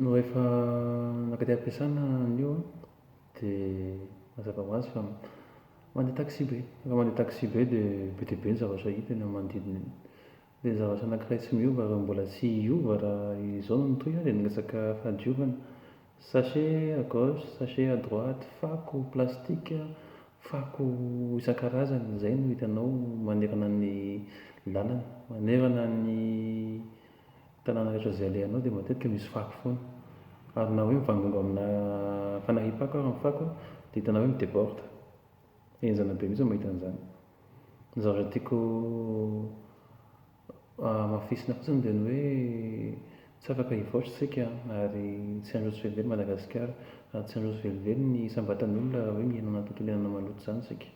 No rehefa naka aty am-piasana anio an, dia mazava ho azy fa mandeha taxi-be. Rehefa mandeha taxi-be dia be dia be ny zavatra hita eny amin'ny manodidina eny. Dia ny zavatra anankiray tsy miova ary mbola tsy hiova raha izao no mitohy an, dia ny resaka fahadiovana. Sachet à gauche, sachet à droite, fako plastika, fako isan-karazany, izay no hitanao manerana ny lalana. Manerana ny tanàna rehetra izay alehanao dia matetika misy fako foana. Ary na hoe mivangongo aminà fanahiam-pako ary ny fako dia hitanao hoe mi-déborde. Henjana be mihitsy ny mahita an'izany. Ny zavatra tiako Hamafisina fotsiny dia ny hoe tsy afaka hivoatra isika ary tsy handroso velively Madagasikara. Ary tsy handroso velively ny isam-batan'olona raha hoe mihinana tontolo iainana maloto izany isika.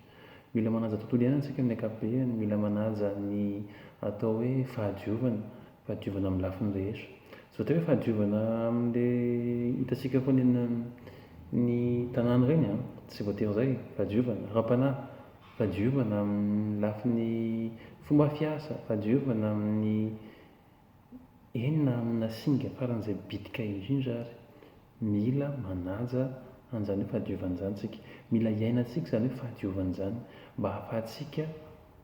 Mila manaja tontolo iainana isika amin'ny ankapobeny, mila manaja ny atao hoe fahadiovana, fahadiovana amin'ny lafiny rehetra. Tsy voatery hoe fahadiovana amin'ilay hitantsika foana eny amin'ny tanàna ireny an, tsy voatery izay, fahadiovana ara-panahy, Fahadiovana amin'ny lafiny fomba fiasa, fahadiovana amin'ny enina amina singa faran'izay bitika indrindra ary mila manaja an'izany hoe fahadiovana izany isika. Mila iainantsika izany hoe fahadiovana izany mba hahafahantsika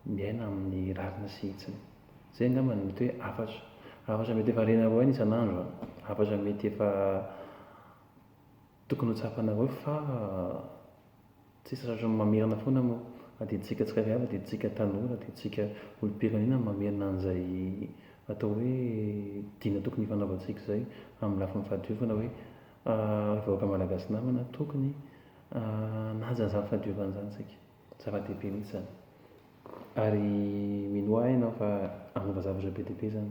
miaina amin'ny rariny sy hitsiny. Izay angamba no mety hoe hafatra. Hafatra mety efa renareo aina isan'andro an! Hafatra mety efa tokony ho tsapanareo fa Tsisy rariny mamerina foana mo na dia tsika tsirairay avy na dia tsika tanora na dia tsika olom-pirenena no mamerina an'izay atao hoe dina tokony hifanaovantsika izay amin'ny lafiny fahadiovana hoe ry vahoaka malagasy namana tokony hanaja an'izany fahadiovana izany tsika. Zava-dehibe mihitsy izany ary minoa ahy ianao fa hanova zavatra be dia be izany.